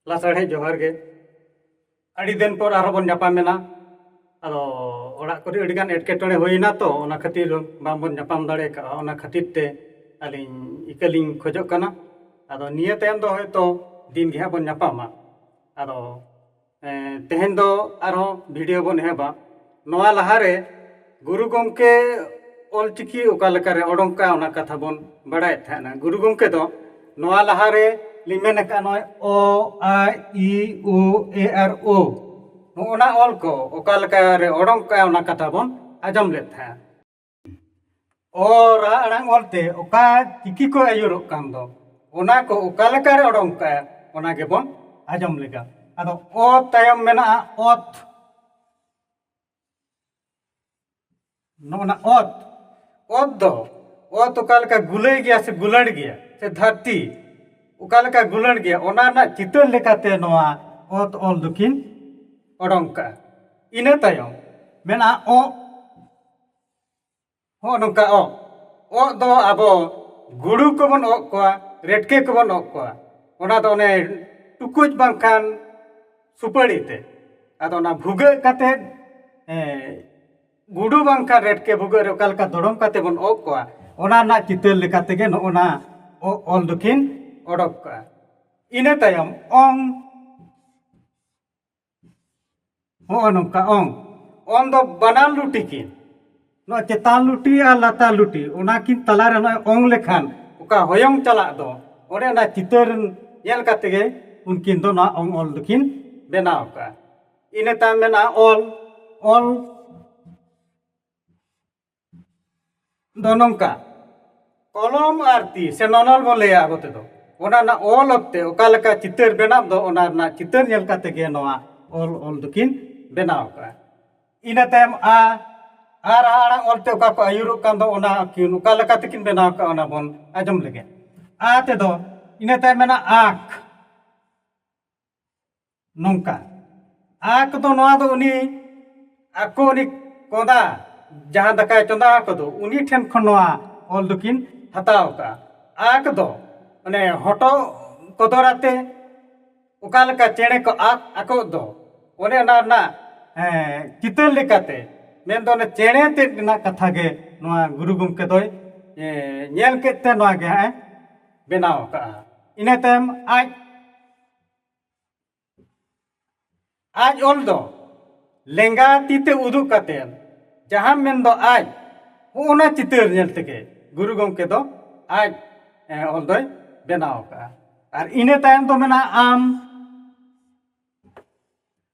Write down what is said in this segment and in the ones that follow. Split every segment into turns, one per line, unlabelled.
ᱞᱟᱥᱟᱲᱦᱮᱫ ᱡᱚᱦᱟᱨ ᱜᱮ ᱟᱹᱰᱤ ᱫᱤᱱ ᱯᱚᱨ ᱟᱨᱦᱚᱸ ᱵᱚᱱ ᱧᱟᱯᱟᱢᱮᱱᱟ ᱟᱫᱚ ᱚᱲᱟᱜ ᱠᱚᱨᱮ ᱟᱹᱰᱤ ᱜᱟᱱ ᱮᱴᱠᱮᱴᱚᱬᱮ ᱦᱩᱭᱮᱱᱟ ᱛᱚ ᱚᱱᱟ ᱠᱷᱟᱹᱛᱤᱨ ᱵᱟᱝᱵᱚᱱ ᱧᱟᱯᱟᱢ ᱫᱟᱲᱮ ᱠᱟᱣᱫᱟ ᱚᱱᱟ ᱠᱷᱟᱹᱛᱤᱨ ᱛᱮ ᱟᱹᱞᱤᱧ ᱤᱠᱟᱹ ᱞᱤᱧ ᱠᱷᱚᱡᱚᱜ ᱠᱟᱱᱟ ᱟᱫᱚ ᱱᱤᱭᱟᱹ ᱛᱟᱭᱚᱢ ᱫᱚ ᱦᱚᱭᱛᱚ ᱫᱤᱱ ᱜᱮ ᱦᱟᱸᱜ ᱵᱚᱱ ᱧᱟᱯᱟᱢᱟ ᱟᱫᱚ ᱛᱮᱦᱮᱧ ᱫᱚ ᱟᱨᱦᱚᱸ ᱵᱷᱤᱰᱤᱭᱳ ᱵᱚᱱ ᱮᱦᱚᱵᱟ ᱱᱚᱣᱟ ᱞᱟᱦᱟ ᱨᱮ ᱜᱩᱨᱩ ᱜᱚᱢᱠᱮ ᱚᱞ ᱪᱤᱠᱤ ᱚᱠᱟ ᱞᱮᱠᱟ ᱨᱮ ᱚᱰᱚᱝ ᱠᱟᱜᱼᱟ ᱚᱱᱟ ᱠᱟᱛᱷᱟ ᱵᱚᱱ ᱵᱟᱲᱟᱭᱮᱫ ᱛᱟᱦᱮᱱᱟ ᱜᱩᱨᱩ ᱜᱚᱢᱠᱮ ᱫᱚ ᱱᱚᱣᱟ ᱞᱟᱦᱟ ᱨᱮ ᱞᱤᱧ ᱢᱮᱱ ᱟᱠᱟᱫᱼᱟ ᱱᱚᱜᱼᱚᱭ ᱚ ᱟ ᱤ ᱳ ᱮᱹ ᱟᱨ ᱳ ᱱᱚᱜᱼᱚ ᱱᱟ ᱚᱞ ᱠᱚ ᱚᱠᱟ ᱞᱮᱠᱟ ᱨᱮ ᱚᱰᱚᱝ ᱠᱟᱜᱼᱟ ᱚᱱᱟ ᱠᱟᱛᱷᱟ ᱵᱚᱱ ᱟᱸᱡᱚᱢ ᱞᱮᱫ ᱛᱟᱦᱮᱸᱫᱼᱟ ᱚ ᱨᱟᱦᱟ ᱟᱲᱟᱝ ᱚᱞᱛᱮ ᱚᱠᱟ ᱪᱤᱠᱤ ᱠᱚ ᱟᱹᱭᱩᱨᱚᱜ ᱠᱟᱱ ᱫᱚ ᱚᱱᱟ ᱠᱚ ᱚᱠᱟ ᱞᱮᱠᱟᱨᱮ ᱚᱰᱚᱝ ᱠᱟᱜᱼᱟ ᱚᱱᱟ ᱜᱮᱵᱚᱱ ᱟᱸᱡᱚᱢ ᱞᱮᱜᱟ ᱟᱫᱚ ᱚ ᱛᱟᱭᱚᱢ ᱢᱮᱱᱟᱜᱼᱟ ᱚᱛ ᱱᱚᱜᱼᱚᱱᱟ ᱚᱛ ᱚᱛ ᱫᱚ ᱚᱛ ᱚᱠᱟ ᱞᱮᱠᱟ ᱜᱩᱞᱟᱹᱭ ᱜᱮᱭᱟ ᱥᱮ ᱜᱩᱞᱟᱹᱲ ᱜᱮᱭᱟ ᱥᱮ ᱫᱷᱟᱹᱨᱛᱤ ᱚᱠᱟ ᱞᱮᱠᱟ ᱜᱩᱞᱟᱹᱲ ᱜᱮᱭᱟ ᱚᱱᱟ ᱨᱮᱱᱟᱜ ᱪᱤᱛᱟᱹᱨ ᱞᱮᱠᱟᱛᱮ ᱱᱚᱣᱟ ᱚᱛ ᱚᱞ ᱫᱚᱠᱤᱱ ᱚᱰᱚᱝ ᱠᱟᱜᱼᱟ ᱤᱱᱟᱹ ᱛᱟᱭᱚᱢ ᱢᱮᱱᱟᱜᱼᱟ ᱚᱜ ᱦᱚᱸᱜᱼᱚ ᱱᱚᱝᱠᱟ ᱚᱸᱜ ᱚᱸᱜ ᱫᱚ ᱟᱵᱚ ᱜᱩᱰᱩ ᱠᱚᱵᱚᱱ ᱚᱸᱜ ᱠᱚᱣᱟ ᱨᱮᱴᱠᱮ ᱠᱚᱵᱚᱱ ᱚᱸᱜ ᱠᱚᱣᱟ ᱚᱱᱟ ᱫᱚ ᱚᱱᱮ ᱴᱩᱠᱩᱡ ᱵᱟᱝᱠᱷᱟᱱ ᱥᱩᱯᱟᱹᱲᱤ ᱛᱮ ᱟᱫᱚ ᱚᱱᱟ ᱵᱷᱩᱜᱟᱹᱜ ᱠᱟᱛᱮᱫ ᱜᱩᱰᱩ ᱵᱟᱝᱠᱷᱟᱱ ᱨᱮᱴᱠᱮ ᱵᱷᱩᱜᱟᱹᱜ ᱨᱮ ᱚᱠᱟ ᱞᱮᱠᱟ ᱫᱚᱲᱚᱢ ᱠᱟᱛᱮᱫ ᱵᱚᱱ ᱚᱸᱜ ᱠᱚᱣᱟ ᱚᱱᱟ ᱨᱮᱱᱟᱜ ᱪᱤᱛᱟᱹᱨ ᱞᱮᱠᱟ ᱛᱮᱜᱮ ᱱᱚᱜᱼᱚ ᱱᱟ ᱚᱸᱜ ᱚᱞ ᱫᱚᱠᱤᱱ ᱚᱰᱚᱠ ᱠᱟᱜᱼᱟ ᱤᱱᱟᱹ ᱛᱟᱭᱚᱢ ᱚᱝ ᱦᱚᱸᱜᱼᱚ ᱱᱚᱝᱠᱟ ᱚᱝ ᱚᱝ ᱫᱚ ᱵᱟᱱᱟᱨ ᱞᱩᱴᱤ ᱠᱤᱱ ᱱᱚᱣᱟ ᱪᱮᱛᱟᱱ ᱞᱩᱴᱤ ᱟᱨ ᱞᱟᱛᱟᱨ ᱞᱩᱴᱤ ᱚᱱᱟ ᱠᱤᱱ ᱛᱟᱞᱟ ᱨᱮ ᱱᱚᱜᱼᱚᱭ ᱚᱝ ᱞᱮᱠᱷᱟᱱ ᱚᱠᱟ ᱦᱚᱭᱚᱝ ᱪᱟᱞᱟᱜ ᱫᱚ ᱚᱸᱰᱮ ᱚᱱᱟ ᱪᱤᱛᱟᱹᱨ ᱧᱮᱞ ᱠᱟᱛᱮ ᱜᱮ ᱩᱱᱠᱤᱱ ᱫᱚ ᱱᱚᱣᱟ ᱚᱝ ᱚᱞ ᱫᱚᱠᱤᱱ ᱵᱮᱱᱟᱣ ᱟᱠᱟᱫᱼᱟ ᱤᱱᱟᱹ ᱛᱟᱭᱚᱢ ᱢᱮᱱᱟᱜᱼᱟ ᱚᱞ ᱚᱞ ᱫᱚ ᱱᱚᱝᱠᱟ ᱠᱚᱞᱚᱢ ᱟᱨ ᱛᱤ ᱥᱮ ᱱᱚᱱᱚᱞ ᱵᱚᱱ ᱞᱟᱹᱭᱟ ᱟᱵᱚ ᱛᱮᱫᱚ ᱚᱱᱟ ᱨᱮᱱᱟᱜ ᱚᱞ ᱚᱠᱛᱮ ᱚᱠᱟ ᱞᱮᱠᱟ ᱪᱤᱛᱟᱹᱨ ᱵᱮᱱᱟᱜ ᱫᱚ ᱚᱱᱟ ᱨᱮᱱᱟᱜ ᱪᱤᱛᱟᱹᱨ ᱧᱮᱞ ᱠᱟᱛᱮᱫ ᱜᱮ ᱱᱚᱣᱟ ᱚᱞ ᱚᱞ ᱫᱚᱠᱤᱱ ᱵᱮᱱᱟᱣ ᱟᱠᱟᱫᱼᱟ ᱤᱱᱟᱹ ᱛᱟᱭᱚᱢ ᱟᱻ ᱟᱻ ᱨᱟᱦᱟ ᱟᱲᱟᱝ ᱚᱞᱛᱮ ᱚᱠᱟ ᱠᱚ ᱟᱹᱭᱩᱨᱚᱜ ᱠᱟᱱ ᱫᱚ ᱚᱱᱟ ᱠᱤᱱ ᱚᱠᱟ ᱞᱮᱠᱟ ᱛᱮᱠᱤᱱ ᱵᱮᱱᱟᱣ ᱟᱠᱟᱫᱼᱟ ᱚᱱᱟ ᱵᱚᱱ ᱟᱸᱡᱚᱢ ᱞᱮᱜᱮ ᱟᱻ ᱛᱮᱫᱚ ᱤᱱᱟᱹ ᱛᱟᱭᱚᱢ ᱢᱮᱱᱟᱜᱼᱟ ᱟᱸᱠ ᱱᱚᱝᱠᱟ ᱟᱠ ᱫᱚ ᱱᱚᱣᱟ ᱫᱚ ᱩᱱᱤ ᱟᱠᱚ ᱩᱱᱤ ᱠᱚᱸᱫᱟ ᱡᱟᱦᱟᱸ ᱫᱟᱠᱟᱭ ᱪᱚᱸᱫᱟ ᱟᱠᱚᱫᱚ ᱩᱱᱤ ᱴᱷᱮᱱ ᱠᱷᱚᱱ ᱱᱚᱣᱟ ᱚᱞ ᱫᱚᱠᱤᱱ ᱦᱟᱛᱟᱣ ᱠᱟᱜᱼᱟ ᱟᱠ ᱫᱚ ᱚᱱᱮ ᱦᱚᱴᱚᱜ ᱠᱚᱫᱚᱨ ᱟᱛᱮ ᱚᱠᱟ ᱞᱮᱠᱟ ᱪᱮᱬᱮ ᱠᱚ ᱟᱠ ᱟᱠᱚᱜ ᱫᱚ ᱚᱱᱮ ᱚᱱᱟ ᱨᱮᱱᱟᱜ ᱪᱤᱛᱟᱹᱨ ᱞᱮᱠᱟᱛᱮ ᱢᱮᱱᱫᱚ ᱚᱱᱮ ᱪᱮᱬᱮ ᱛᱮᱫ ᱨᱮᱱᱟᱜ ᱠᱟᱛᱷᱟ ᱜᱮ ᱱᱚᱣᱟ ᱜᱩᱨᱩ ᱜᱚᱢᱠᱮ ᱫᱚᱭ ᱧᱮᱞ ᱠᱮᱫ ᱛᱮ ᱱᱚᱣᱟ ᱜᱮ ᱦᱟᱸᱜ ᱮ ᱵᱮᱱᱟᱣ ᱠᱟᱜᱼᱟ ᱤᱱᱟᱹ ᱛᱟᱭᱚᱢ ᱟᱡ ᱟᱡ ᱚᱞ ᱫᱚ ᱞᱮᱸᱜᱟ ᱛᱤ ᱛᱮ ᱩᱫᱩᱜ ᱠᱟᱛᱮ ᱡᱟᱦᱟᱸ ᱢᱮᱱᱫᱚ ᱟᱡ ᱦᱚᱸᱜᱼᱚᱱᱟ ᱪᱤᱛᱟᱹᱨ ᱧᱮᱞ ᱛᱮᱜᱮ ᱜᱩᱨᱩ ᱜᱚᱢᱠᱮ ᱫᱚ ᱟᱡ ᱚᱞ ᱫᱚᱭ ᱵᱮᱱᱟᱣ ᱟᱠᱟᱫᱼᱟ ᱟᱨ ᱤᱱᱟᱹ ᱛᱟᱭᱚᱢ ᱫᱚ ᱢᱮᱱᱟᱜᱼᱟ ᱟᱢ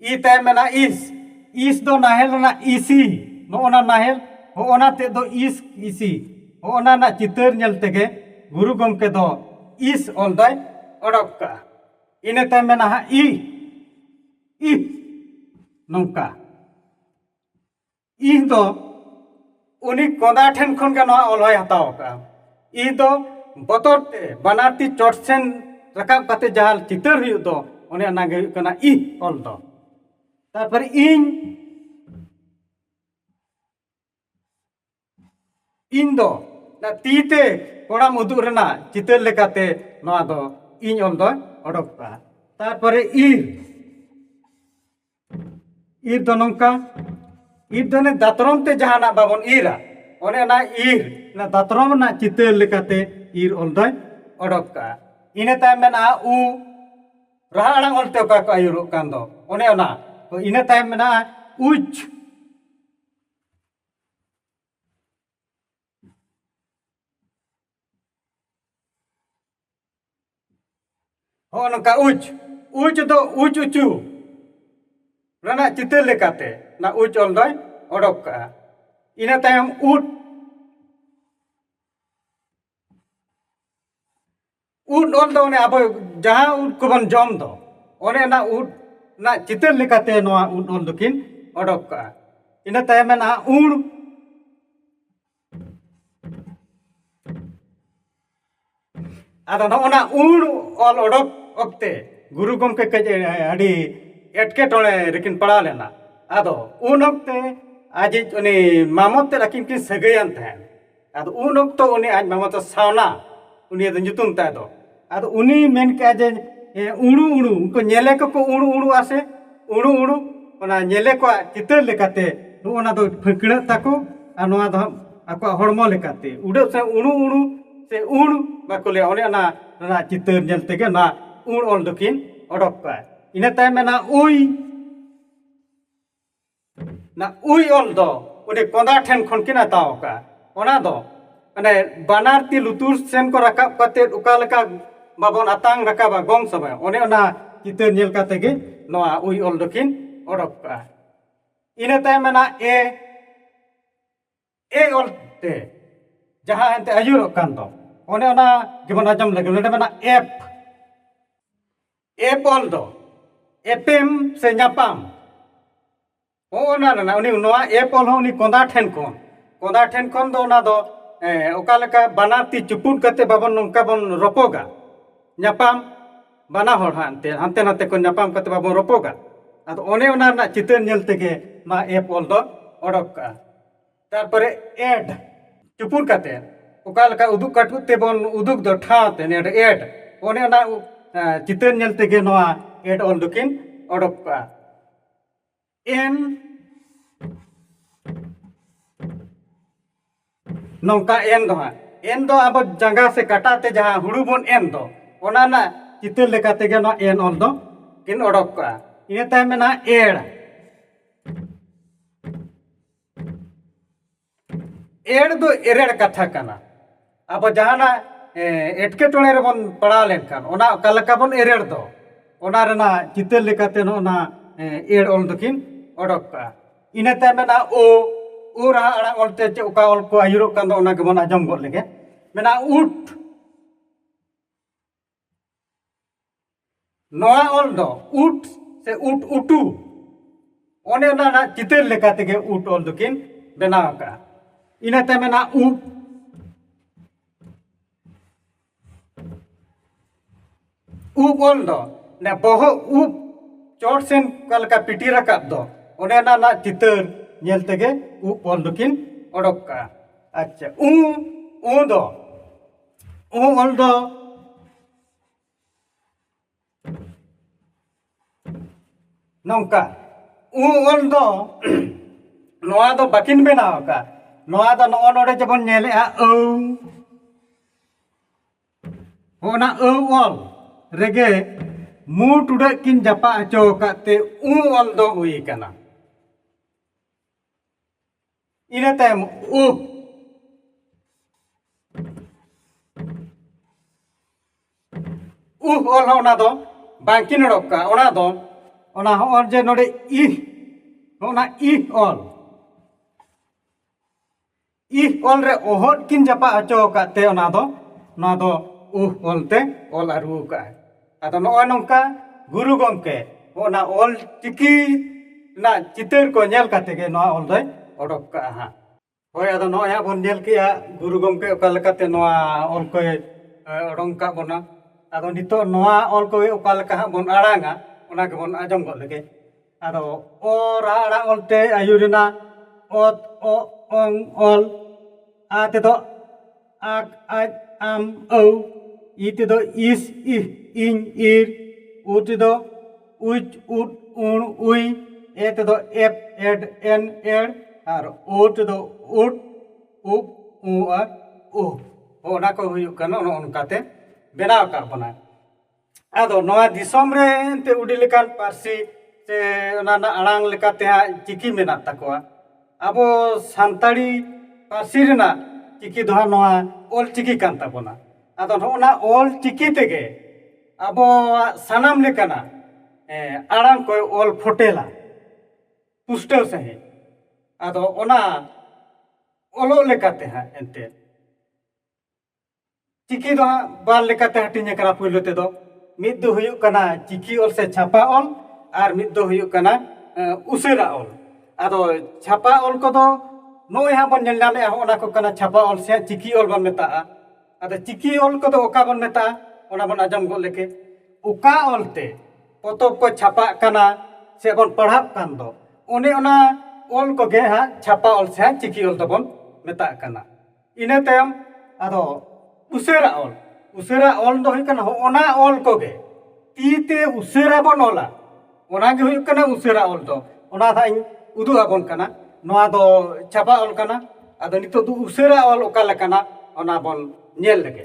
ᱤ ᱛᱟᱭᱚᱢ ᱢᱮᱱᱟᱜᱼᱟ ᱤᱥ ᱤᱥ ᱫᱚ ᱱᱟᱦᱮᱞ ᱨᱮᱱᱟᱜ ᱤᱥᱤ ᱱᱚᱜᱼᱚᱱᱟ ᱱᱟᱦᱮᱞ ᱦᱚᱜᱼᱚᱱᱟ ᱛᱮᱫ ᱫᱚ ᱤᱥ ᱤᱥᱤ ᱦᱚᱜᱼᱚᱱᱟ ᱨᱮᱱᱟᱜ ᱪᱤᱛᱟᱹᱨ ᱧᱮᱞ ᱛᱮᱜᱮ ᱜᱩᱨᱩ ᱜᱚᱢᱠᱮ ᱫᱚ ᱤᱥ ᱚᱞ ᱫᱚᱭ ᱚᱰᱚᱠ ᱠᱟᱜᱼᱟ ᱤᱱᱟᱹ ᱛᱟᱭᱚᱢ ᱢᱮᱱᱟᱜᱼᱟ ᱤ ᱤ ᱱᱚᱝᱠᱟ ᱤᱧ ᱫᱚ ᱩᱱᱤ ᱠᱚᱸᱫᱟ ᱴᱷᱮᱱ ᱠᱷᱚᱱ ᱜᱮ ᱱᱚᱣᱟ ᱚᱞ ᱦᱚᱭ ᱦᱟᱛᱟᱣ ᱟᱠᱟᱫᱼᱟ ᱤᱧ ᱫᱚ ᱵᱚᱛᱚᱨ ᱛᱮ ᱵᱟᱱᱟᱨ ᱛᱤ ᱪᱚᱴ ᱥᱮᱱ ᱨᱟᱠᱟᱵ ᱠᱟᱛᱮᱫ ᱡᱟᱦᱟᱸ ᱪᱤᱛᱟᱹᱨ ᱦᱩᱭᱩᱜ ᱫᱚ ᱚᱱᱮ ᱚᱱᱟ ᱜᱮ ᱦᱩᱭᱩᱜ ᱠᱟᱱᱟ ᱤᱦ ᱚᱞ ᱫᱚ ᱛᱟᱨᱯᱚᱨᱮ ᱤᱧ ᱤᱧ ᱫᱚ ᱛᱤ ᱛᱮ ᱠᱚᱲᱟᱢ ᱩᱫᱩᱜ ᱨᱮᱱᱟᱜ ᱪᱤᱛᱟᱹᱨ ᱞᱮᱠᱟᱛᱮ ᱱᱚᱣᱟ ᱫᱚ ᱤᱧ ᱚᱞ ᱫᱚ ᱚᱰᱚᱠ ᱠᱟᱜᱼᱟ ᱛᱟᱨᱯᱚᱨᱮ ᱤᱦ ᱤᱨ ᱫᱚ ᱱᱚᱝᱠᱟ ᱤᱨ ᱫᱚ ᱚᱱᱮ ᱫᱟᱛᱨᱚᱢ ᱛᱮ ᱡᱟᱦᱟᱱᱟᱜ ᱵᱟᱵᱚᱱ ᱤᱨᱟ ᱚᱱᱮ ᱚᱱᱟ ᱤᱨ ᱚᱱᱟ ᱫᱟᱛᱨᱚᱢ ᱨᱮᱱᱟᱜ ᱪᱤᱛᱟᱹᱨ ᱞᱮᱠᱟᱛᱮ ᱤᱨ ᱚᱞ ᱫᱚᱭ ᱚᱰᱚᱠ ᱠᱟᱜᱼᱟ ᱤᱱᱟᱹ ᱛᱟᱭᱚᱢ ᱢᱮᱱᱟᱜᱼᱟ ᱩ ᱨᱟᱦᱟ ᱟᱲᱟᱝ ᱚᱞᱛᱮ ᱚᱠᱟ ᱠᱚ ᱟᱹᱭᱩᱨᱚᱜ ᱠᱟᱱ ᱫᱚ ᱚᱱᱮ ᱚᱱᱟ ᱛᱚ ᱤᱱᱟᱹ ᱛᱟᱭᱚᱢ ᱢᱮᱱᱟᱜᱼᱟ ᱩᱪ ᱦᱚᱸᱜᱼᱚ ᱱᱚᱝᱠᱟ ᱩᱪ ᱩᱪ ᱫᱚ ᱩᱪ ᱩᱪᱩ ᱨᱮᱱᱟᱜ ᱪᱤᱛᱟᱹᱨ ᱞᱮᱠᱟᱛᱮ ᱚᱱᱟ ᱩᱪ ᱚᱞ ᱫᱚᱭ ᱚᱰᱚᱠ ᱠᱟᱜᱼᱟ ᱤᱱᱟᱹ ᱛᱟᱭᱚᱢ ᱩᱴ ᱩᱴ ᱚᱞ ᱫᱚ ᱚᱱᱮ ᱟᱵᱚ ᱡᱟᱦᱟᱸ ᱩᱴ ᱠᱚᱵᱚᱱ ᱡᱚᱢ ᱫᱚ ᱚᱱᱮ ᱚᱱᱟ ᱩᱴ ᱨᱮᱱᱟᱜ ᱪᱤᱛᱟᱹᱨ ᱞᱮᱠᱟᱛᱮ ᱱᱚᱣᱟ ᱩᱴ ᱚᱞ ᱫᱚᱠᱤᱱ ᱚᱰᱚᱠ ᱠᱟᱜᱼᱟ ᱤᱱᱟᱹ ᱛᱟᱭᱚᱢ ᱢᱮᱱᱟᱜᱼᱟ ᱩᱬ ᱟᱫᱚ ᱱᱚᱜᱼᱚ ᱱᱟ ᱩᱲ ᱚᱞ ᱚᱰᱚᱠ ᱚᱠᱛᱮ ᱜᱩᱨᱩ ᱜᱚᱢᱠᱮ ᱠᱟᱹᱡ ᱟᱹᱰᱤ ᱮᱴᱠᱮᱴᱚᱬᱮ ᱨᱮᱠᱤᱱ ᱯᱟᱲᱟᱣ ᱞᱮᱱᱟ ᱟᱫᱚ ᱩᱱ ᱚᱠᱛᱮ ᱟᱡᱤᱡ ᱩᱱᱤ ᱢᱟᱢᱚᱛ ᱛᱮᱫ ᱟᱹᱠᱤᱱ ᱠᱤᱱ ᱥᱟᱹᱜᱟᱹᱭᱟᱱ ᱛᱟᱦᱮᱸᱫ ᱟᱫᱚ ᱩᱱ ᱚᱠᱛᱚ ᱩᱱᱤ ᱟᱡ ᱢᱟᱢᱚᱛ ᱫᱚ ᱥᱟᱣᱱᱟ ᱩᱱᱤᱭᱟᱜ ᱫᱚ ᱧᱩᱛᱩᱢ ᱛᱟᱭ ᱫᱚ ᱟᱫᱚ ᱩᱱᱤ ᱢᱮᱱ ᱠᱮᱜᱼᱟ ᱡᱮ ᱦᱮᱸ ᱩᱲᱩ ᱩᱲᱩ ᱩᱱᱠᱩ ᱧᱮᱞᱮ ᱠᱚᱠᱚ ᱩᱲᱩ ᱩᱲᱩ ᱟᱥᱮ ᱩᱲᱩ ᱩᱲᱩ ᱚᱱᱟ ᱧᱮᱞᱮ ᱠᱚᱣᱟᱜ ᱪᱤᱛᱟᱹᱨ ᱞᱮᱠᱟᱛᱮ ᱱᱚᱜᱼᱚ ᱱᱟ ᱫᱚ ᱯᱷᱟᱹᱠᱬᱟᱹᱜ ᱛᱟᱠᱚ ᱟᱨ ᱱᱚᱣᱟ ᱫᱚ ᱦᱟᱸᱜ ᱟᱠᱚᱣᱟᱜ ᱦᱚᱲᱢᱚ ᱞᱮᱠᱟᱛᱮ ᱩᱰᱟᱹᱜ ᱥᱮ ᱩᱲᱩ ᱩᱲᱩ ᱥᱮ ᱩᱲ ᱵᱟᱠᱚ ᱞᱟᱹᱭᱟ ᱚᱱᱮ ᱚᱱᱟ ᱨᱮᱱᱟᱜ ᱪᱤᱛᱟᱹᱨ ᱧᱮᱞ ᱛᱮᱜᱮ ᱚᱱᱟ ᱩᱲ ᱚᱞ ᱫᱚᱠᱤᱱ ᱚᱰᱚᱠ ᱠᱟᱜᱼᱟ ᱤᱱᱟᱹ ᱛᱟᱭᱚᱢ ᱢᱮᱱᱟᱜᱼᱟ ᱩᱭ ᱚᱱᱟ ᱩᱭ ᱚᱞ ᱫᱚ ᱩᱱᱤ ᱠᱚᱸᱫᱟ ᱴᱷᱮᱱ ᱠᱷᱚᱱ ᱠᱤᱱ ᱦᱟᱛᱟᱣ ᱟᱠᱟᱫᱼᱟ ᱚᱱᱟ ᱫᱚ ᱢᱟᱱᱮ ᱵᱟᱱᱟᱨ ᱛᱤ ᱞᱩᱛᱩᱨ ᱥᱮᱱ ᱠᱚ ᱨᱟᱠᱟᱵ ᱠᱟᱛᱮᱫ ᱚᱠᱟ ᱞᱮᱠᱟ ᱵᱟᱵᱚᱱ ᱟᱛᱟᱝ ᱨᱟᱠᱟᱵᱟ ᱜᱚᱝ ᱥᱚᱢᱚᱭ ᱚᱱᱮ ᱚᱱᱟ ᱪᱤᱛᱟᱹᱨ ᱧᱮᱞ ᱠᱟᱛᱮᱫ ᱜᱮ ᱱᱚᱣᱟ ᱩᱭ ᱚᱞ ᱫᱚᱠᱤᱱ ᱚᱰᱚᱠ ᱠᱟᱜᱼᱟ ᱤᱱᱟᱹ ᱛᱟᱭᱚᱢ ᱢᱮᱱᱟᱜᱼᱟ ᱮ ᱮ ᱚᱞ ᱛᱮ ᱡᱟᱦᱟᱸ ᱮᱱᱛᱮᱫ ᱟᱹᱭᱩᱨᱚᱜ ᱠᱟᱱ ᱫᱚ ᱚᱱᱮ ᱚᱱᱟ ᱜᱮᱵᱚᱱ ᱟᱸᱡᱚᱢ ᱞᱮᱜᱮ ᱱᱚᱰᱮ ᱢᱮᱱᱟᱜᱼᱟ ᱮᱯ ᱮᱯ ᱚᱞ ᱫᱚ ᱮᱯᱮᱢ ᱥᱮ ᱧᱟᱯᱟᱢ ᱦᱚᱸᱜᱼᱚ ᱱᱟ ᱨᱮᱱᱟᱜ ᱩᱱᱤ ᱱᱚᱣᱟ ᱮᱯ ᱚᱞ ᱦᱚᱸ ᱩᱱᱤ ᱠᱚᱸᱫᱟ ᱴᱷᱮᱱ ᱠᱷᱚᱱ ᱠᱚᱸᱫᱟ ᱴᱷᱮᱱ ᱠᱷᱚᱱ ᱫᱚ ᱚᱱᱟ ᱫᱚ ᱚᱠᱟ ᱞᱮᱠᱟ ᱵᱟᱱᱟᱨ ᱛᱤ ᱪᱩᱯᱩᱫ ᱠᱟᱛᱮᱫ ᱵᱟᱵᱚᱱ ᱱᱚᱝᱠᱟ ᱵᱚᱱ ᱨᱚᱯᱚᱜᱟ ᱧᱟᱯᱟᱢ ᱵᱟᱱᱟ ᱦᱚᱲ ᱦᱟᱸᱜ ᱮᱱᱛᱮᱫ ᱦᱟᱱᱛᱮ ᱱᱟᱛᱮ ᱠᱚ ᱧᱟᱯᱟᱢ ᱠᱟᱛᱮ ᱵᱟᱵᱚᱱ ᱨᱚᱯᱚᱜᱟ ᱟᱫᱚ ᱚᱱᱮ ᱚᱱᱟ ᱨᱮᱱᱟᱜ ᱪᱤᱛᱟᱹᱨ ᱧᱮᱞ ᱛᱮᱜᱮ ᱢᱟ ᱮᱯ ᱚᱞ ᱫᱚ ᱚᱰᱚᱠ ᱠᱟᱜᱼᱟ ᱛᱟᱨᱯᱚᱨᱮ ᱮᱰ ᱪᱩᱯᱩᱫ ᱠᱟᱛᱮ ᱚᱠᱟ ᱞᱮᱠᱟ ᱩᱫᱩᱜ ᱠᱟᱹᱴᱩᱵ ᱛᱮᱵᱚᱱ ᱩᱫᱩᱜᱽ ᱫᱚ ᱴᱷᱟᱶ ᱛᱮ ᱱᱚᱰᱮ ᱮᱰ ᱚᱱᱮ ᱚᱱᱟ ᱪᱤᱛᱟᱹᱨ ᱧᱮᱞ ᱛᱮᱜᱮ ᱱᱚᱣᱟ ᱮᱰ ᱚᱞ ᱫᱚᱠᱤᱱ ᱚᱰᱚᱠ ᱠᱟᱜᱼᱟ ᱮᱱ ᱱᱚᱝᱠᱟ ᱮᱱ ᱫᱚ ᱦᱟᱸᱜ ᱮᱱ ᱫᱚ ᱟᱵᱚ ᱡᱟᱸᱜᱟ ᱥᱮ ᱠᱟᱴᱟ ᱛᱮ ᱡᱟᱦᱟᱸ ᱦᱩᱲᱩ ᱵᱚᱱ ᱮᱱ ᱫᱚ ᱚᱱᱟ ᱨᱮᱱᱟᱜ ᱪᱤᱛᱟᱹᱨ ᱞᱮᱠᱟ ᱛᱮᱜᱮ ᱱᱚᱣᱟ ᱮᱱ ᱚᱞ ᱫᱚ ᱠᱤᱱ ᱚᱰᱚᱠ ᱠᱟᱜᱼᱟ ᱤᱱᱟᱹ ᱛᱟᱭᱚᱢ ᱢᱮᱱᱟᱜᱼᱟ ᱮᱲ ᱮᱲ ᱫᱚ ᱮᱲᱮᱲ ᱠᱟᱛᱷᱟ ᱠᱟᱱᱟ ᱟᱵᱚ ᱡᱟᱦᱟᱱᱟᱜ ᱮᱴᱠᱮᱴᱚᱬᱮ ᱨᱮᱵᱚᱱ ᱯᱟᱲᱟᱣ ᱞᱮᱱᱠᱷᱟᱱ ᱚᱱᱟ ᱚᱠᱟ ᱞᱮᱠᱟ ᱵᱚᱱ ᱮᱲᱮᱲ ᱫᱚ ᱚᱱᱟ ᱨᱮᱱᱟᱜ ᱪᱤᱛᱟᱹᱨ ᱞᱮᱠᱟᱛᱮ ᱱᱚᱜᱼᱚ ᱱᱟ ᱮᱲ ᱚᱞ ᱫᱚᱠᱤᱱ ᱚᱰᱚᱠ ᱠᱟᱜᱼᱟ ᱤᱱᱟᱹ ᱛᱟᱭᱚᱢ ᱢᱮᱱᱟᱜᱼᱟ ᱳ ᱳ ᱨᱟᱦᱟ ᱟᱲᱟᱝ ᱚᱞ ᱛᱮ ᱪᱮᱫ ᱚᱠᱟ ᱚᱞ ᱠᱚ ᱟᱹᱭᱩᱨᱚᱜ ᱠᱟᱱ ᱫᱚ ᱚᱱᱟ ᱜᱮᱵᱚᱱ ᱟᱸᱡᱚᱢ ᱜᱚᱫ ᱞᱮᱜᱮ ᱢᱮᱱᱟᱜᱼᱟ ᱩᱴ ᱱᱚᱣᱟ ᱚᱞ ᱫᱚ ᱩᱴ ᱥᱮ ᱩᱴ ᱩᱴᱩ ᱚᱱᱮ ᱚᱱᱟ ᱨᱮᱱᱟᱜ ᱪᱤᱛᱟᱹᱨ ᱞᱮᱠᱟ ᱛᱮᱜᱮ ᱩᱴ ᱚᱞ ᱫᱚᱠᱤᱱ ᱵᱮᱱᱟᱣ ᱟᱠᱟᱫᱼᱟ ᱤᱱᱟᱹᱛᱮ ᱢᱮᱱᱟᱜᱼᱟ ᱩᱴ ᱩᱵ ᱚᱞ ᱫᱚ ᱚᱱᱮ ᱵᱚᱦᱚᱜ ᱩᱵ ᱪᱚᱴ ᱥᱮᱱ ᱚᱠᱟ ᱞᱮᱠᱟ ᱯᱤᱴᱤ ᱨᱟᱠᱟᱵ ᱫᱚ ᱚᱱᱮ ᱚᱱᱟ ᱨᱮᱱᱟᱜ ᱪᱤᱛᱟᱹᱨ ᱧᱮᱞ ᱛᱮᱜᱮ ᱩᱵ ᱚᱞ ᱫᱚᱠᱤᱱ ᱚᱰᱚᱠ ᱠᱟᱜᱼᱟ ᱟᱪᱪᱷᱟ ᱩ ᱩ ᱫᱚ ᱚ ᱚᱞ ᱫᱚ ᱱᱚᱝᱠᱟ ᱩ ᱚᱞ ᱫᱚ ᱱᱚᱣᱟ ᱫᱚ ᱵᱟᱹᱠᱤᱱ ᱵᱮᱱᱟᱣ ᱟᱠᱟᱫᱼᱟ ᱱᱚᱣᱟ ᱫᱚ ᱱᱚᱜᱼᱚ ᱱᱚᱰᱮ ᱡᱮᱵᱚᱱ ᱧᱮᱞᱮᱫᱼᱟ ᱟᱹᱣ ᱚᱱᱟ ᱟᱹᱣ ᱚᱞ ᱨᱮᱜᱮ ᱢᱩ ᱴᱩᱰᱟᱹᱜ ᱠᱤᱱ ᱡᱟᱯᱟᱜ ᱦᱚᱪᱚ ᱟᱠᱟᱫ ᱛᱮ ᱩ ᱚᱞ ᱫᱚ ᱦᱩᱭ ᱟᱠᱟᱱᱟ ᱤᱱᱟᱹ ᱛᱟᱭᱚᱢ ᱩ ᱩᱦ ᱚᱞ ᱦᱚᱸ ᱚᱱᱟ ᱫᱚ ᱵᱟᱝᱠᱤᱱ ᱚᱰᱚᱠ ᱠᱟᱜᱼᱟ ᱚᱱᱟ ᱫᱚ ᱚᱱᱟ ᱦᱚᱸ ᱡᱮ ᱱᱚᱰᱮ ᱤ ᱚᱱᱟ ᱤ ᱚᱞ ᱤ ᱚᱞ ᱨᱮ ᱚᱦᱚᱫ ᱠᱤᱱ ᱡᱟᱯᱟᱜ ᱦᱚᱪᱚ ᱟᱠᱟᱫ ᱛᱮ ᱚᱱᱟ ᱫᱚ ᱱᱚᱣᱟ ᱫᱚ ᱩᱦ ᱚᱞ ᱛᱮ ᱚᱞ ᱟᱹᱨᱩ ᱟᱠᱟᱫᱼᱟᱭ ᱟᱫᱚ ᱱᱚᱜᱼᱚᱭ ᱱᱚᱝᱠᱟ ᱜᱩᱨᱩ ᱜᱚᱢᱠᱮ ᱚᱱᱟ ᱚᱞ ᱪᱤᱠᱤ ᱨᱮᱱᱟᱜ ᱪᱤᱛᱟᱹᱨ ᱠᱚ ᱧᱮᱞ ᱠᱟᱛᱮ ᱜᱮ ᱱᱚᱣᱟ ᱚᱞ ᱫᱚᱭ ᱚᱰᱚᱠ ᱠᱟᱜᱼᱟ ᱦᱟᱸᱜ ᱦᱳᱭ ᱟᱫᱚ ᱱᱚᱜᱼᱚᱭ ᱦᱟᱸᱜ ᱵᱚᱱ ᱧᱮᱞ ᱠᱮᱜᱼᱟ ᱜᱩᱨᱩ ᱜᱚᱢᱠᱮ ᱚᱠᱟ ᱞᱮᱠᱟᱛᱮ ᱱᱚᱣᱟ ᱚᱞ ᱠᱚᱭ ᱚᱰᱚᱝ ᱠᱟᱜ ᱵᱚᱱᱟ ᱟᱫᱚ ᱱᱤᱛᱚᱜ ᱱᱚᱣᱟ ᱚᱞ ᱠᱚᱜᱮ ᱚᱠᱟ ᱞᱮᱠᱟ ᱦᱟᱸᱜ ᱵᱚᱱ ᱟᱲᱟᱝᱟ ᱚᱱᱟ ᱜᱮᱵᱚᱱ ᱟᱸᱡᱚᱢ ᱜᱚᱫ ᱞᱮᱜᱮ ᱟᱫᱚ ᱚ ᱨᱟᱦᱟ ᱟᱲᱟᱝ ᱚᱞᱛᱮ ᱟᱹᱭᱩᱨ ᱮᱱᱟ ᱚᱛ ᱚ ᱚᱝ ᱚᱞ ᱟ ᱛᱮᱫᱚ ᱟᱠ ᱟᱡ ᱟᱢ ᱟᱹᱣ ᱤ ᱛᱮᱫᱚ ᱤᱥ ᱤᱦ ᱤᱧ ᱤᱨ ᱩ ᱛᱮᱫᱚ ᱩᱪ ᱩᱫ ᱩᱬ ᱩᱭ ᱮ ᱛᱮᱫᱚ ᱮᱯ ᱮᱰ ᱮᱱ ᱮᱲ ᱟᱨ ᱳ ᱛᱮᱫᱚ ᱩᱫ ᱩᱵ ᱩ ᱟᱨ ᱩᱦ ᱚᱱᱟ ᱠᱚ ᱦᱩᱭᱩᱜ ᱠᱟᱱᱟ ᱚᱱᱮ ᱚᱱᱠᱟᱛᱮ ᱵᱮᱱᱟᱣ ᱟᱠᱟᱫ ᱵᱚᱱᱟᱭ ᱟᱫᱚ ᱱᱚᱣᱟ ᱫᱤᱥᱚᱢ ᱨᱮ ᱮᱱᱛᱮ ᱟᱹᱰᱤ ᱞᱮᱠᱟᱱ ᱯᱟᱹᱨᱥᱤ ᱥᱮ ᱚᱱᱟ ᱨᱮᱱᱟᱜ ᱟᱲᱟᱝ ᱞᱮᱠᱟᱛᱮ ᱦᱟᱸᱜ ᱪᱤᱠᱤ ᱢᱮᱱᱟᱜ ᱛᱟᱠᱚᱣᱟ ᱟᱵᱚ ᱥᱟᱱᱛᱟᱲᱤ ᱯᱟᱹᱨᱥᱤ ᱨᱮᱱᱟᱜ ᱪᱤᱠᱤ ᱫᱚ ᱦᱟᱸᱜ ᱱᱚᱣᱟ ᱚᱞ ᱪᱤᱠᱤ ᱠᱟᱱ ᱛᱟᱵᱚᱱᱟ ᱟᱫᱚ ᱱᱚᱜᱼᱚ ᱱᱟ ᱚᱞ ᱪᱤᱠᱤ ᱛᱮᱜᱮ ᱟᱵᱚᱣᱟᱜ ᱥᱟᱱᱟᱢ ᱞᱮᱠᱟᱱᱟᱜ ᱟᱲᱟᱝ ᱠᱚᱭ ᱚᱞ ᱯᱷᱳᱴᱮᱞᱟ ᱯᱩᱥᱴᱟᱹᱣ ᱥᱟᱺᱦᱤᱡ ᱟᱫᱚ ᱚᱱᱟ ᱚᱞᱚᱜ ᱞᱮᱠᱟᱛᱮ ᱦᱟᱸᱜ ᱮᱱᱛᱮᱫ ᱪᱤᱠᱤ ᱫᱚ ᱦᱟᱸᱜ ᱵᱟᱨ ᱞᱮᱠᱟᱛᱮ ᱦᱟᱹᱴᱤᱧ ᱟᱠᱟᱱᱟ ᱯᱩᱭᱞᱩ ᱛᱮᱫᱚ ᱢᱤᱫ ᱫᱚ ᱦᱩᱭᱩᱜ ᱠᱟᱱᱟ ᱪᱤᱠᱤ ᱚᱞ ᱥᱮ ᱪᱷᱟᱯᱟ ᱚᱞ ᱟᱨ ᱢᱤᱫ ᱫᱚ ᱦᱩᱭᱩᱜ ᱠᱟᱱᱟ ᱩᱥᱟᱹᱨᱟ ᱚᱞ ᱟᱫᱚ ᱪᱷᱟᱯᱟ ᱚᱞ ᱠᱚᱫᱚ ᱱᱚᱜᱼᱚᱭ ᱦᱟᱸᱜ ᱵᱚᱱ ᱧᱮᱞ ᱧᱟᱢᱮᱜᱼᱟ ᱦᱚᱸᱜᱼᱚ ᱱᱟ ᱠᱚ ᱠᱟᱱᱟ ᱪᱷᱟᱯᱟ ᱚᱞ ᱥᱮ ᱪᱤᱠᱤ ᱚᱞ ᱵᱚᱱ ᱢᱮᱛᱟᱜᱼᱟ ᱟᱫᱚ ᱪᱤᱠᱤ ᱚᱞ ᱠᱚᱫᱚ ᱚᱠᱟ ᱵᱚᱱ ᱢᱮᱛᱟᱜᱼᱟ ᱚᱱᱟ ᱵᱚᱱ ᱟᱸᱡᱚᱢ ᱜᱚᱫ ᱞᱮᱜᱮ ᱚᱠᱟ ᱚᱞ ᱛᱮ ᱯᱚᱛᱚᱵ ᱠᱚ ᱪᱷᱟᱯᱟᱜ ᱠᱟᱱᱟ ᱥᱮ ᱵᱚᱱ ᱯᱟᱲᱦᱟᱜ ᱠᱟᱱ ᱫᱚ ᱚᱱᱮ ᱚᱱᱟ ᱚᱞ ᱠᱚᱜᱮ ᱦᱟᱸᱜ ᱪᱷᱟᱯᱟ ᱚᱞ ᱥᱮ ᱪᱤᱠᱤ ᱚᱞ ᱫᱚᱵᱚᱱ ᱢᱮᱛᱟᱜ ᱠᱟᱱᱟ ᱤᱱᱟᱹ ᱛᱟᱭᱚᱢ ᱟᱫᱚ ᱩᱥᱟᱹᱨᱟ ᱚᱞ ᱩᱥᱟᱹᱨᱟ ᱚᱞ ᱫᱚ ᱦᱩᱭᱩᱜ ᱠᱟᱱᱟ ᱦᱚᱸᱜᱼᱚᱱᱟ ᱚᱞ ᱠᱚᱜᱮ ᱛᱤ ᱛᱮ ᱩᱥᱟᱹᱨᱟ ᱵᱚᱱ ᱚᱞᱟ ᱚᱱᱟᱜᱮ ᱦᱩᱭᱩᱜ ᱠᱟᱱᱟ ᱩᱥᱟᱹᱨᱟ ᱚᱞ ᱫᱚ ᱚᱱᱟ ᱦᱟᱸᱜ ᱤᱧ ᱩᱫᱩᱜ ᱟᱵᱚᱱ ᱠᱟᱱᱟ ᱱᱚᱣᱟ ᱫᱚ ᱪᱷᱟᱯᱟ ᱚᱞ ᱠᱟᱱᱟ ᱟᱫᱚ ᱱᱤᱛᱚᱜ ᱫᱚ ᱩᱥᱟᱹᱨᱟ ᱚᱞ ᱚᱠᱟ ᱞᱮᱠᱟᱱᱟ ᱚᱱᱟ ᱵᱚᱱ ᱧᱮᱞ ᱞᱮᱜᱮ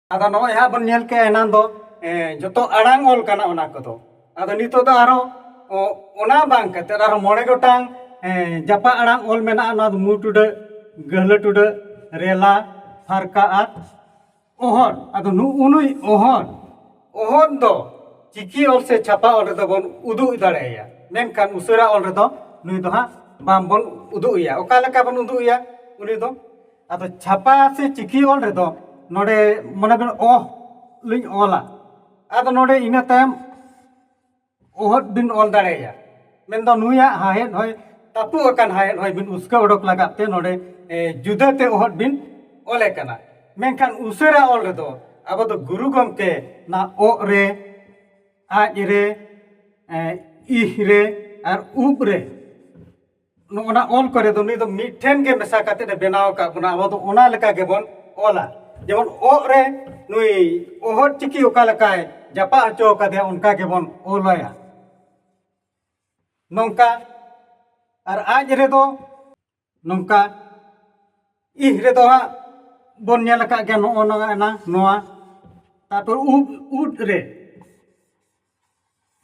ᱟᱫᱚ ᱱᱚᱜᱼᱚᱭ ᱦᱟᱸᱜ ᱵᱚᱱ ᱧᱮᱞ ᱠᱮᱜᱼᱟ ᱮᱱᱟᱱ ᱫᱚ ᱡᱚᱛᱚ ᱟᱲᱟᱝ ᱚᱞ ᱠᱟᱱᱟ ᱚᱱᱟ ᱠᱚᱫᱚ ᱟᱫᱚ ᱱᱤᱛᱚᱜ ᱫᱚ ᱟᱨᱦᱚᱸ ᱚᱱᱟ ᱵᱟᱝ ᱠᱟᱛᱮ ᱟᱨᱦᱚᱸ ᱢᱚᱬᱮ ᱜᱚᱴᱟᱝ ᱡᱟᱯᱟᱜ ᱟᱲᱟᱝ ᱚᱞ ᱢᱮᱱᱟᱜᱼᱟ ᱱᱚᱣᱟ ᱫᱚ ᱢᱩ ᱴᱩᱰᱟᱹᱜ ᱜᱟᱹᱦᱞᱟᱹ ᱴᱩᱰᱟᱹᱜ ᱨᱮᱞᱟ ᱯᱷᱟᱨᱠᱟ ᱟᱨ ᱚᱦᱚᱫ ᱟᱫᱚ ᱱᱩᱜᱼᱩ ᱱᱩᱭ ᱚᱦᱚᱫ ᱚᱦᱚᱫ ᱫᱚ ᱪᱤᱠᱤ ᱚᱞ ᱥᱮ ᱪᱷᱟᱯᱟ ᱚᱞ ᱨᱮᱫᱚ ᱵᱚᱱ ᱩᱫᱩᱜ ᱫᱟᱲᱮᱭᱟᱭᱟ ᱢᱮᱱᱠᱷᱟᱱ ᱩᱥᱟᱹᱨᱟ ᱚᱞ ᱨᱮᱫᱚ ᱱᱩᱭ ᱫᱚ ᱦᱟᱸᱜ ᱵᱟᱝ ᱵᱚᱱ ᱩᱫᱩᱜ ᱮᱭᱟ ᱚᱠᱟ ᱞᱮᱠᱟ ᱵᱚᱱ ᱩᱫᱩᱜ ᱮᱭᱟ ᱩᱱᱤ ᱫᱚ ᱟᱫᱚ ᱪᱷᱟᱯᱟ ᱥᱮ ᱪᱤᱠᱤ ᱚᱞ ᱨᱮᱫᱚ ᱱᱚᱰᱮ ᱢᱚᱱᱮ ᱠᱟᱜ ᱚ ᱞᱤᱧ ᱚᱞᱟ ᱟᱫᱚ ᱱᱚᱰᱮ ᱤᱱᱟᱹ ᱛᱟᱭᱚᱢ ᱚᱦᱚᱫ ᱵᱤᱱ ᱚᱞ ᱫᱟᱲᱮᱭᱟᱜᱼᱟ ᱢᱮᱱᱫᱚ ᱱᱩᱭᱟᱜ ᱦᱟᱦᱮᱫ ᱦᱚᱭ ᱛᱟᱹᱯᱩ ᱟᱠᱟᱱ ᱦᱟᱦᱮᱫ ᱦᱚᱭ ᱵᱤᱱ ᱩᱥᱠᱟᱹ ᱚᱰᱚᱠ ᱞᱟᱜᱟᱫ ᱛᱮ ᱱᱚᱰᱮ ᱡᱩᱫᱟᱹ ᱛᱮ ᱚᱦᱚᱫ ᱵᱤᱱ ᱚᱞᱮ ᱠᱟᱱᱟ ᱢᱮᱱᱠᱷᱟᱱ ᱩᱥᱟᱹᱨᱟ ᱚᱞ ᱨᱮᱫᱚ ᱟᱵᱚ ᱫᱚ ᱜᱩᱨᱩ ᱜᱚᱢᱠᱮ ᱱᱟ ᱚᱜ ᱨᱮ ᱟᱡ ᱨᱮ ᱤᱦ ᱨᱮ ᱟᱨ ᱩᱵ ᱨᱮ ᱱᱚᱜᱼᱚᱱᱟ ᱚᱞ ᱠᱚᱨᱮ ᱫᱚ ᱱᱩᱭ ᱫᱚ ᱢᱤᱫᱴᱷᱮᱱ ᱜᱮ ᱢᱮᱥᱟ ᱠᱟᱛᱮ ᱮ ᱵᱮᱱᱟᱣ ᱟᱠᱟᱫ ᱵᱚᱱᱟ ᱟᱵᱚ ᱫᱚ ᱚᱱᱟ ᱞᱮᱠᱟ ᱜᱮᱵᱚᱱ ᱚᱞᱟ ᱡᱮᱢᱚᱱ ᱚᱜ ᱨᱮ ᱱᱩᱭ ᱚᱦᱚᱫ ᱪᱤᱠᱤ ᱚᱠᱟ ᱞᱮᱠᱟᱭ ᱡᱟᱯᱟᱜ ᱦᱚᱪᱚ ᱟᱠᱟᱫᱮᱭᱟ ᱚᱱᱠᱟ ᱜᱮᱵᱚᱱ ᱚᱞᱟᱭᱟ ᱱᱚᱝᱠᱟ ᱟᱨ ᱟᱡ ᱨᱮᱫᱚ ᱱᱚᱝᱠᱟ ᱤᱦ ᱨᱮᱫᱚ ᱦᱟᱸᱜ ᱵᱚᱱ ᱧᱮᱞ ᱟᱠᱟᱫ ᱜᱮᱭᱟ ᱱᱚᱜᱼᱚ ᱱᱚᱣᱟ ᱱᱚᱣᱟ ᱛᱟᱨᱯᱚᱨ ᱩᱵ ᱩᱫ ᱨᱮ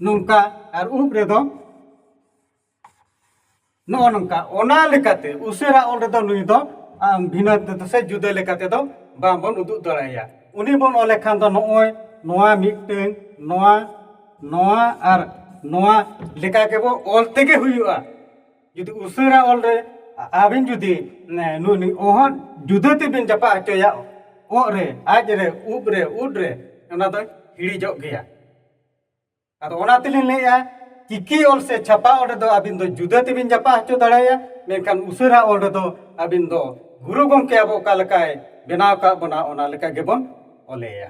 ᱱᱚᱝᱠᱟ ᱟᱨ ᱩᱵ ᱨᱮᱫᱚ ᱱᱚᱜᱼᱚ ᱱᱚᱝᱠᱟ ᱚᱱᱟ ᱞᱮᱠᱟᱛᱮ ᱩᱥᱟᱹᱨᱟ ᱚᱞ ᱨᱮᱫᱚ ᱱᱩᱭ ᱫᱚ ᱵᱷᱤᱱᱟᱹ ᱛᱮᱫᱚ ᱥᱮ ᱡᱩᱫᱟᱹ ᱞᱮᱠᱟ ᱛᱮᱫᱚ ᱵᱟᱝᱵᱚᱱ ᱩᱫᱩᱜ ᱫᱟᱲᱮᱭᱟᱭᱟ ᱩᱱᱤ ᱵᱚᱱ ᱚᱞ ᱞᱮᱠᱷᱟᱱ ᱫᱚ ᱱᱚᱜᱼᱚᱭ ᱱᱚᱣᱟ ᱢᱤᱫᱴᱟᱹᱝ ᱱᱚᱣᱟ ᱱᱚᱣᱟ ᱟᱨ ᱱᱚᱣᱟ ᱞᱮᱠᱟ ᱜᱮᱵᱚ ᱚᱞ ᱛᱮᱜᱮ ᱦᱩᱭᱩᱜᱼᱟ ᱡᱩᱫᱤ ᱩᱥᱟᱹᱨᱟ ᱚᱞ ᱨᱮ ᱟᱹᱵᱤᱱ ᱡᱩᱫᱤ ᱱᱩᱭ ᱚᱦᱚᱫ ᱡᱩᱫᱟᱹ ᱛᱮᱵᱤᱱ ᱡᱟᱯᱟᱜ ᱦᱚᱪᱚᱭᱟ ᱚᱜ ᱨᱮ ᱟᱡ ᱨᱮ ᱩᱵ ᱨᱮ ᱩᱫ ᱨᱮ ᱚᱱᱟ ᱫᱚᱭ ᱦᱤᱲᱤᱡᱚᱜ ᱜᱮᱭᱟ ᱟᱫᱚ ᱚᱱᱟ ᱛᱮᱞᱤᱧ ᱞᱟᱹᱭᱮᱫᱼᱟ ᱪᱤᱠᱤ ᱚᱞ ᱥᱮ ᱪᱷᱟᱯᱟ ᱚᱞ ᱨᱮᱫᱚ ᱟᱹᱵᱤᱱ ᱫᱚ ᱡᱩᱫᱟᱹ ᱛᱮᱵᱤᱱ ᱡᱟᱯᱟ ᱦᱚᱪᱚ ᱫᱟᱲᱮᱭᱟᱜᱼᱟ ᱢᱮᱱᱠᱷᱟᱱ ᱩᱥᱟᱹᱨᱟ ᱚᱞ ᱨᱮᱫᱚ ᱟᱹᱵᱤᱱ ᱫᱚ ᱜᱩᱨᱩ ᱜᱚᱢᱠᱮ ᱟᱵᱚ ᱚᱠᱟ ᱞᱮᱠᱟᱭ ᱵᱮᱱᱟᱣ ᱟᱠᱟᱫ ᱵᱚᱱᱟ ᱚᱱᱟ ᱞᱮᱠᱟ ᱜᱮᱵᱚᱱ ᱚᱞᱮᱭᱟ